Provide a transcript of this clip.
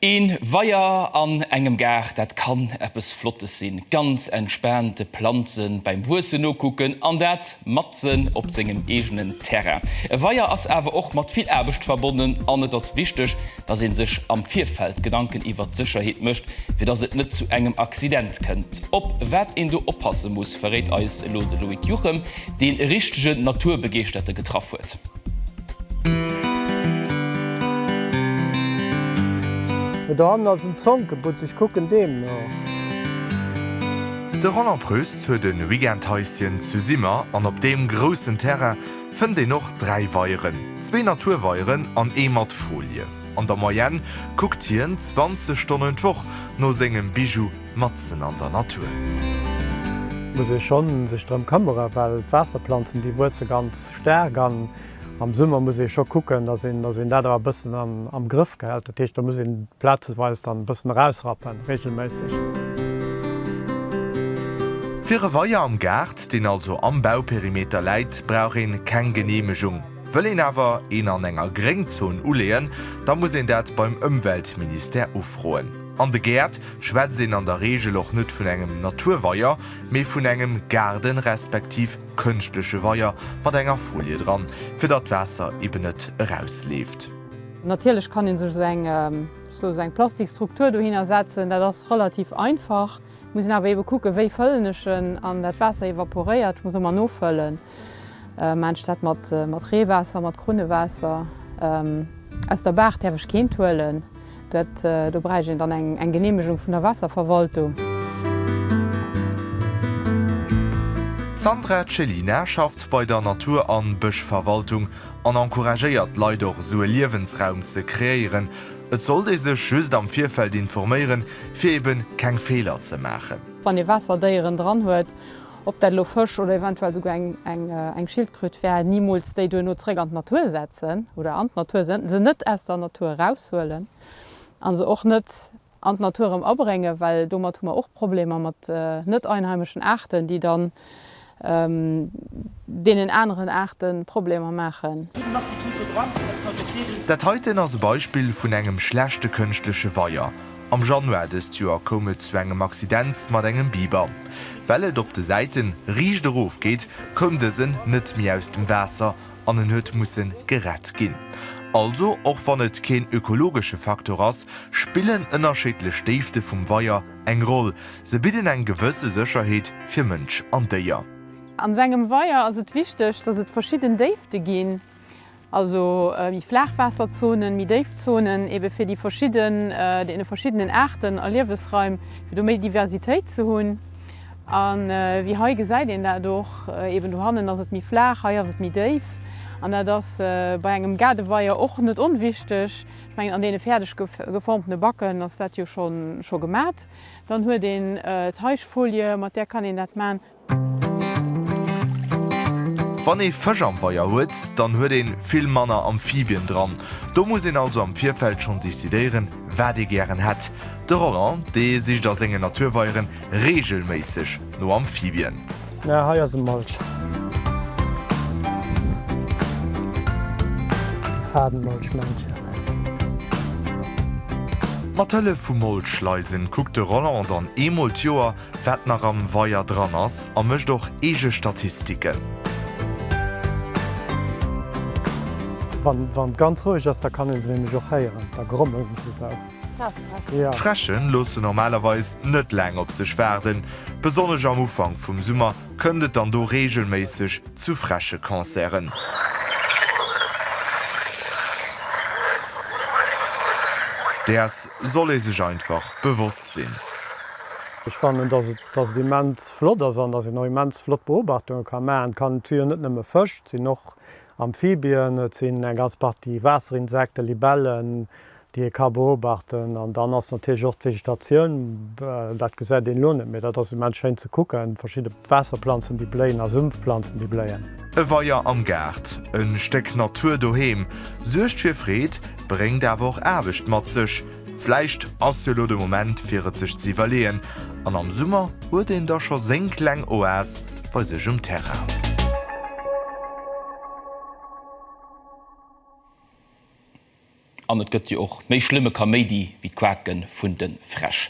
Een Weier an engem Gaart, dat kann eppes Flottes sinn. Ganz entspaant de Planzen beim Wuessen nokucken an dat matzen op sengem eegenen Terrain. E Weier ass awer och mat vill Aarbecht verbonnen an et ass wichteg, dass een sech am Virfeld Gedanken iwwert d'Sécherheet mécht, fir dass et net zu engem Accident kënnt. Op wat een do oppasse muss, verréit eis elo de Loïc Juchem, deen e richtegen Naturbegeeschterte getraff huet. Oder an als um Zonkebutz, ech kucken deem no. De Roland Preuss huet e Weekendhaischen zu Simmer an op deem groussen Terrain fënnt een och dräi Weieren, zwee Naturweieren an ee mat Folie. An der Moyenne kuckt hien 20 Stonnen d'Woch no sengem Bijou matzen an der Natur. Muss ee schonn sech drëm këmmere well d'Waasserplanzen déi wuesse ganz Staark an am Summer muss ee scho kucken, datt een dat awer e bëssen am Grëff gehält. Dat heescht, do muss een plazeweis dann e bëssen erausrappen, reegelméisseg. Fir e Weier am Gaart, deen also am Bauperimeter läit, brauch een keng Geneemegung. Wëll een awer een an enger Gréngzon uleeën, da muss een dat beim Ëmweltministère ufroen. An de Gäert schwätzt een an der Reegel och net vun engem Naturweier, mee vun engem Gaarden respektiv. Kënschtleche Weier mat enger Folie dran, fir datt d'Waasser eben net erausleeft. Natierlech kann een sech esou eng sou eng plastik Struktur dohinner setzen, dat ass relativ einfach. Muss een awer eben kucken wéi fëllen ech en an dat Waasser evaporéiert. Ech muss ëmmer nofëllen aanstat mat Reewaasser, mat Krunnewaasser aus der Baach däerf ech keent huelen. Dat do bräicht een dann eng Geneemegung vun der Waasserverwaltung. D'Sandra Cellina schafft bei der Natur an Bëschverwaltung an encouragéiert d'Leit och esou e Liewensraum ze kreéieren. Et sollt ee sech just am Virfeld informéieren, fir eben keng Feeler ze maachen. Wann ee Waasserdéieren dran huet, ob dat elo Fësch oder eventuell souguer eng Schildkröt wär, nimools déi duerno zréck an d'Natur setzen oder an d'Natur sënn, se net aus der Natur eraushuelen a se och net an d'Natur erëm abréngen, well domat hu mer och Problemer mat net einheimeschen Aarten, déi dann deenen aneren Aarte Problemer maachen. Dat heiten ass e Beispill vun engem schlechte kënschtleche Weier. Am Januar dëst Joer koum et zu engem Accident mat engem Biber. Well et op de Säite riicht erof geet, koum dësen net méi aus dem Waasser an en huet musse gerett ginn. Also och wann et keen ökologesche Faktor ass, spillen ënnerscheedlech Déifte vum Weier eng Roll, se bidden eng gewësse Sécherheet fir Mënsch an Déier. An esou engem Weier ass et wichteg, datt et verschidden Déifte ginn. Also méi Flaachwaasserzonen, méi déif Zonen ebe fir déi verschidden, deene verschiddenen Aarten a Liewesraim, fir do méi Diversitéit ze hunn. A wéi hei gesäit een dat och, eben do hannen ass et méi flaach, hei ass et méi déif. An dat ass bei engem Gaardeweier och net onwichteg. Ech mengen an deene fäerdeg geformtene Backen ass dat jo scho gemat. Dann huet een d'Heischfolie, mat där kann een dat man. Wann ee Fësch am Weier huet, dann huet een vill manner Amphibien dran. Do muss een also am Virfeld schonn decidéieren, wat ee gären hätt. De Roland, dee sicht a sengen Naturweieren reegelméisseg no Amphibien. Mä hei ass e Molch. Fadenmolchmännchen. Mat Hëllef vu Molchschleisen kuckt de Roland dann eemol d'Joer, Wat nach am Weier dran ass a mécht och eege Statistiken. Wann et ganz roueg ass, da kann een se nämlech och héieren, da grommelen se esou. D'Fräsche loosse normalerweis net laang op sech waarden. Besonnesch am Ufank vum Summer kënnt et dann do reegelméisseg zu Fräsche-Concerten. Däers soll ee sech einfach bewosst sinn. Ech fannen, dass et, dass et immens flott ass an dass een och immens flott Beobachtunge ka maachen kann. Et si jo net nëmme Fësch, et sinn och Amphibien, et sinn eng ganz Partie Waasser-Insekten, Libellen, déi ee ka beobachten. An dann ass natierlech och d'Vegetatioun, dat gesäit een elo net, mee dat ass immens schéin ze kucken, verschidde. Waasserplanzen déi bléien a Sümpfplanzen déi bléien. E Weier am Gaart, e Stéck Natur doheem, suergt fir Freed, bréngt awer och Aarbecht mat sech. Vläicht ass jo lo de Moment fir et sech ze iwwerleeën an am Summer huet een da scho seng kleng Oas bei sech um Terrain. An et gëtt jo och méi schlëmme Kaméidi wéi d'Quake vun de Fräsch.